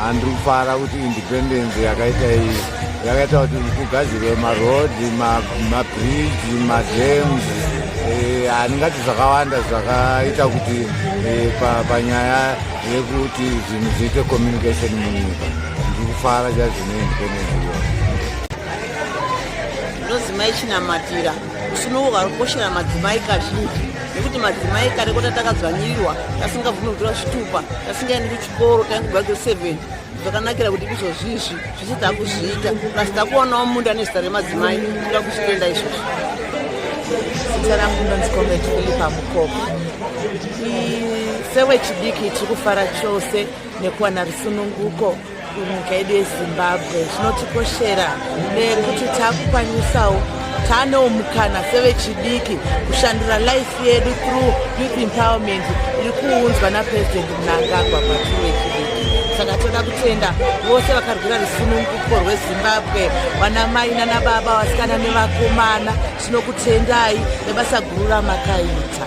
handiri kufara kuti independence yakaita iyi yakaita kuti kugadzirwe maroad mabridge madams eh, handingati zvakawanda zvakaita kuti eh, panyaya yekuti zvinhu zviite communication munyika ndiri kufara chaizvo neindependence iyoyo ndinozi maichinamatirwa usunouka rukoshera madzimai kazhinji nekuti madzimai kare kota takadzwanyirirwa tasingabvumi kutora zvitupa tasingaendi kuch chikoro taingobva grade seven zvakanakira kuti izvozvizvi zvese takuzviita plus takuonawo munda nezita remadzimai toda kuzvitenda izvozvo zita rangu ndonzi comrade philipa mukoko sewechidiki tiri kufara chose nekuwana rusununguko munyika yedu yezimbabwe zvinotikoshera nekuti takukwanisawo tanewo mukana sevechidiki kushandura life yedu through youth empowerment iri kuunzwa napresident Mnangagwa kwatiri wechidiki saka toda kutenda vose vakarwira rusununguko rwezimbabwe vana mai nana baba vasikana nevakomana tinokutendai nebasa guru ramakaita